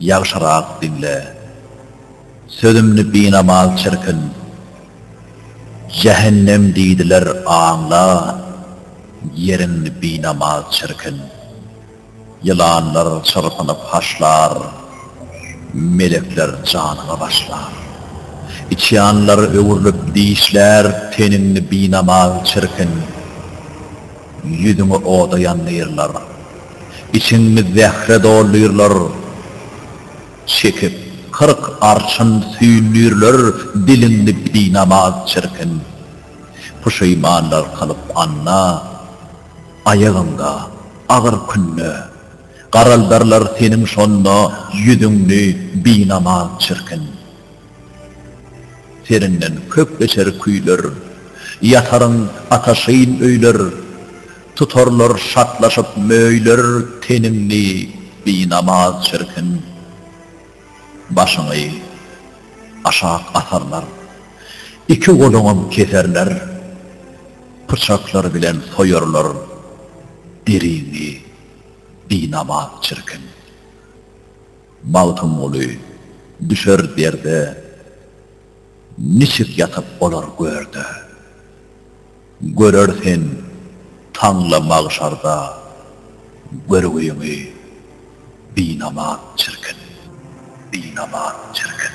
Ýagşyrak diňle, sözümni binamaz çirkin, Jähennem diýdiler aňla, ýeriňni binamaz çirkin. Ýylanlar çyrpynyp haşlar, melekler janyňa başlar. Içýanlar öwrülip dişlär, teniňni binamaz çirkin. Ýüzüňi oda ýandyrlar. Içiňiz zähre doldyrlar, çekip, kyrk arşyn süýndürler Diliňi binamaz çirkin, puşeýmanlar kylyp anna Aýagyňda, agyr künde, garaldarlar seniň şonda Ýüzüňni binamaz çirkin. Seriňden köp geçer küýler, ýataryň ataşyn öýler Tutarlar şatlaşyp möýler teniňi binamaz çirkin Başyňy aşak atarlar iki goluňam keserler Pyçaklar bilen soýarlar deriňi binamaz çirkin Magtymguly düşer derde niçik ýatyp olar görde. Görer sen taňla magşarda görgüňi binamaz çirkin, binamaz çirkin.